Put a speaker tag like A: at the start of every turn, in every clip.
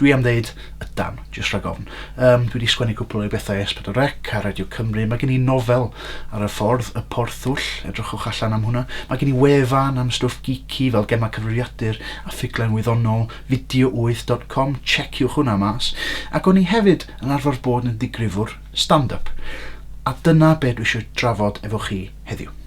A: Dwi am ddeud, ydan, jyst rhag ofn. Yym, dwi 'di sgwennu cwpl o'i bethau i S4 C a Radio Cymru. Mae gen i nofel ar y ffordd, Y Porthwll, edrychwch allan am hwnna. Mae gen i wefan am stwff geeky fel gemau cyfrifiadur a ffuglen wyddonol, video8 dot com, tseciwch hwnna mas. Ac o'n i hefyd yn arfer bod yn ddigrifwr stand-up. A dyna be dwi eisiau drafod efo chi heddiw.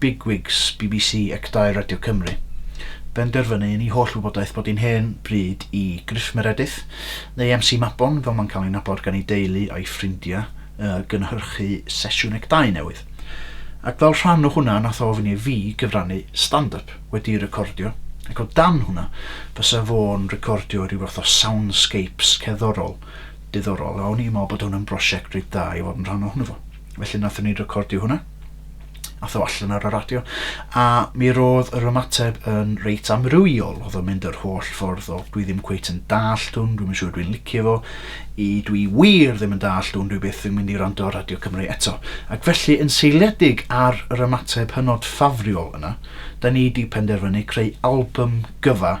A: Bigwigs bbc ac Dau Radio Cymru, benderfynu yn ei holl wybodaeth bod hi'n hen bryd i Griff Meredith, neu MC Mabon fel mae'n cael ei nabod gan ei deulu a'i ffrindiau, yy gynhyrchu sesiwn ac dau newydd. Ac fel rhan o hwnna nath o ofyn i fi gyfrannu stand up wedi'i recordio, ac o dan hwnna fysa fo'n recordio rhyw fath o soundscapes cerddorol diddorol, a o'n i'n meddwl bod hwn yn brosiect reit dda i fod yn rhan ohono fo. Felly nathon ni recordio hwnna. Ath o allan ar y radio. A mi roedd yr ymateb yn reit amrywiol. Oedd o'n mynd yr holl ffordd o dwi ddim cweit yn dallt hwn, dwi'n siŵr dwi'n licio fo, i dwi wir ddim yn dallt hwn, dwi byth yn mynd i rando ar Radio Cymru eto. Ac felly yn seiliedig ar yr ymateb hynod ffafriol yna, da ni di penderfynu creu album gyfa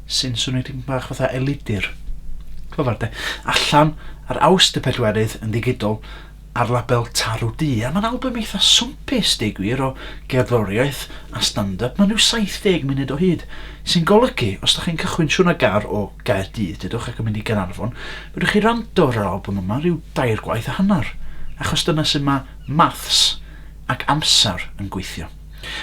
A: sy'n swnio tipyn bach fatha elidir. Clyfar de. Allan ar Awst y pedwerydd yn ddigidol ar label Tarw Du, a mae'n albym eitha swmpus, deu gwir, o gerddoriaeth a stand-up, mae'n rhyw 70 munud o hyd, sy'n golygu, os da chi'n cychwyn siwrna gar o Gaerdydd, dedwch, ac yn mynd i Gaernarfon, fedrwch chi rando ar yr albym yma rhyw dair gwaith a hanner, achos dyna sut mae maths ac amser yn gweithio.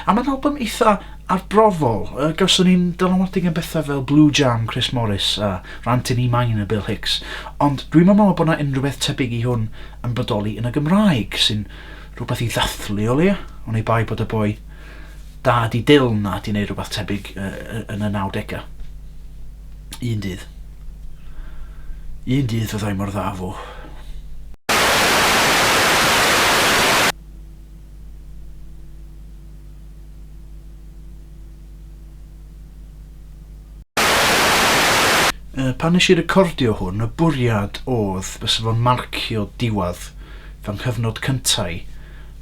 A: A mae'n albym eitha' arbrofol. Yy gawson ni'n dylanwadu gan betha' fel Blue Jam Chris Morris a Rant in E Minor Bill Hicks, ond dwi'm yn meddwl bod 'na unrhyw beth tebyg i hwn yn bodoli yn y Gymraeg, sy'n rhywbeth i ddathlu o leia', oni bai bod y boi da 'di Dull 'na 'di neud rhywbeth tebyg yn y nawdega'. Un dydd. Un dydd fyddai mor dda â fo. Yy, pan nes i recordio hwn, y bwriad odd bysa fo'n marcio diwadd fy nghyfnod cynta i,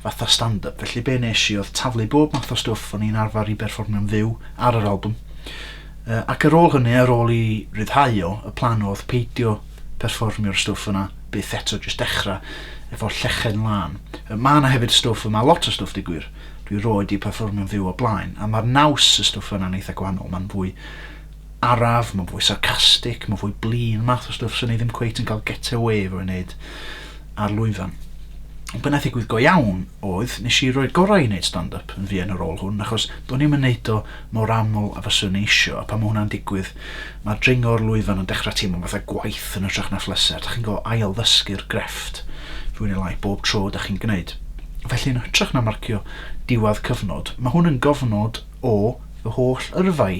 A: fatha stand-up, felly be nes i odd taflu bob math o stwff o'n i'n arfar i berfformio'n fyw ar yr albwm. Yy, ac ar ôl hynny, ar ôl i ryddhau o, y plan odd peidio perfformio'r stwff yna byth eto jyst dechra efo llechen lân. Yy ma' 'na hefyd stwff yma lot o stwff deu gwir. Dwi roed 'di perfformio'n fyw o blaen a ma'r naws y stwff yna'n eitha gwahanol ma'n fwy araf ma'n fwy sarcastic ma'n fwy blin math o stwff swn i ddim cweit yn cael get away efo ei wneud ar lwyfan. Ond be' nath ddigwydd go iawn oedd nes i roi'r gorau i wneud stand up yn fuan ar ôl hwn achos do'n i'm yn neud o mor aml a fyswn i isio a pan ma' hwnna'n digwydd Mae dringo'r lwyfan yn dechrau teimlo'n fatha gwaith yn hytrach na phleser. Dych chi'n gorfod ail-ddysgu'r grefft fwy neu lai bob tro dych chi'n gwneud. Felly yn hytrach na marcio diwedd cyfnod, mae hwn yn gofnod o fy holl yrfa i.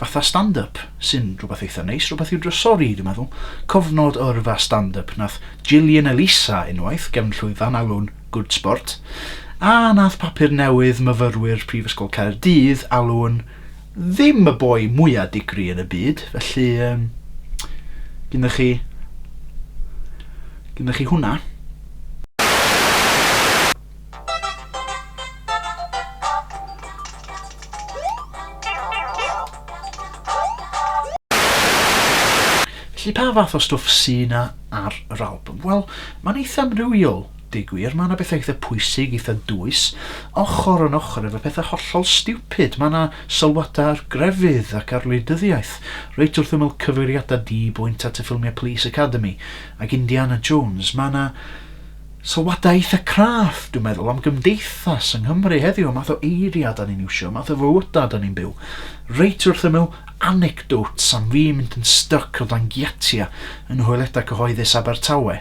A: Fatha stand-up, sy'n rhywbeth eitha neis, rhywbeth i'w drysori i, dwi'n meddwl. Cofnod o yrfa stand-up nath Gillian Elisa unwaith, gefn llwyfan alw'n Good Sport, a nath papur newydd myfyrwyr Prifysgol Caerdydd alw'n ddim y boi mwya digri yn y byd, felly um, gyda chi gyda chi hwnna. Felly pa fath o stwff sy'n ar yr album? Wel, mae'n eitha amrywiol. Deu gwir, mae 'na bethau eitha' pwysig, eitha' dwys, ochr yn ochr efo pethau hollol stiwpid. Mae 'na sylwadau ar grefydd ac ar wleidyddiaeth, reit wrth ymyl cyfeiriadau di-bwynt at y ffilmiau Police Academy ac Indiana Jones. Mae 'na sylwadau eitha' craff, dwi'n meddwl, am gymdeithas yng Nghymru heddiw, y math o eiriau 'dan ni'n iwsio, y math o fywydau 'dan ni'n byw, reit wrth ymyl anecdotes am fi mynd yn styc o dan giatiau yng nghoeledau cyhoeddus Abertawe.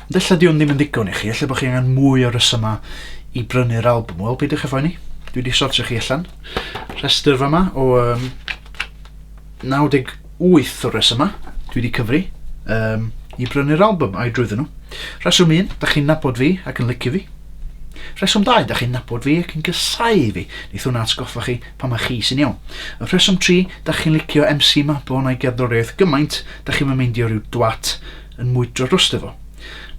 A: Ond ella 'di hwn ddim yn ddigon i chi, ella bod chi angen mwy o resymau i brynu'r albwm. Wel, beidiwch â phoeni, dwi wedi sortio chi allan. Rhestr fama o um, 98 o resymau dwi wedi cyfri um, i brynu'r albwm a'i drwyddo nhw. Reswm 1, da chi'n nabod fi ac yn licio fi. Reswm 2, da chi'n nabod fi ac yn gysau fi. Neith hwnna atgoffa chi pa mae chi sy'n iawn. Y rheswm 3, da chi'n licio MC Mabon a'i gerddoriaeth gymaint, da chi'n meindio rhyw dwat yn mwydro drosto fo.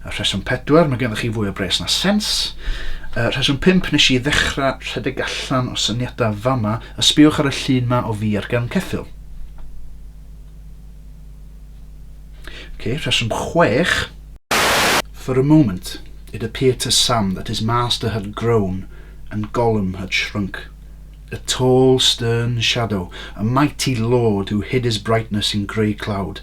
A: A rheswm pedwar, mae gennych chi fwy o bres na sens. A rheswm pump, nes i ddechrau rhedeg allan o syniadau fama, a sbiwch ar y llun ma o fi ar gefn ceffyl. Okay, rheswm chwech, For a moment, it appeared to Sam that his master had grown and Gollum had shrunk. A tall, stern shadow, a mighty lord who hid his brightness in grey cloud,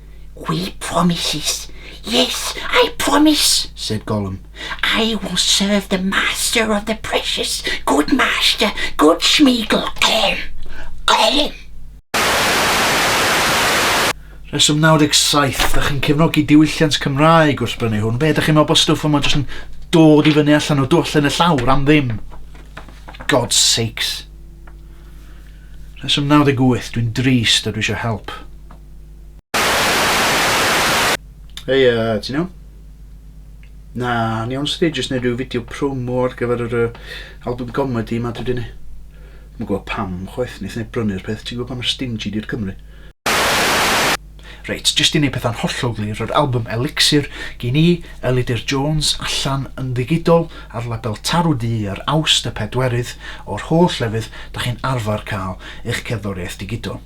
A: We promises. Yes, I promise, said Gollum. I will serve the master of the precious. Good master, good Smeagol. Gollum, Gollum. Rheswm 97, ydych chi'n cefnogi diwylliant Cymraeg wrth brynu hwn? Be, ydych chi'n meddwl bod stwff yma jyst yn dod i fyny allan o dwallen y llawr am ddim? God's sakes. Rheswm 98, dwi'n drist a dwi eisiau help. Hei, uh, ti'n iawn? Na, ni iawn sydd jyst neud rhyw fideo promo ar gyfer yr uh, album comedy yma dwi wedi neud. Mae'n gwybod pam, chwaith, neith neb brynu'r peth, ti'n gwybod pam yr stingy di'r Cymru. Reit, jyst i neud pethau'n hollol glir, yr album Elixir gyn i, Elidir Jones, allan yn ddigidol ar label Tarw Du ar Awst y pedwerydd o'r holl lefydd da chi'n arfer cael eich cerddoriaeth digidol.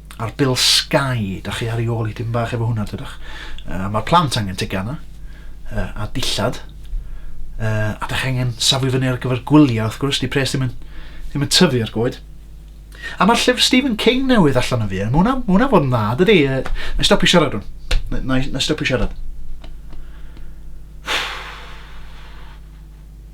A: A'r bil Sky, da chi ar ei ôl i dim bach efo hwnna, dydych. Uh, Mae'r plant angen tegana, uh, a dillad, uh, a da chi angen safu fyny ar gyfer gwyliau, wrth gwrs, di pres ddim yn, ddim yn tyfu ar goed. A mae'r llyfr Stephen King newydd allan o fi, mae hwnna, ma hwnna fod yn dda, dydy, uh, na stopio siarad rhwng, na, na, na stopio siarad.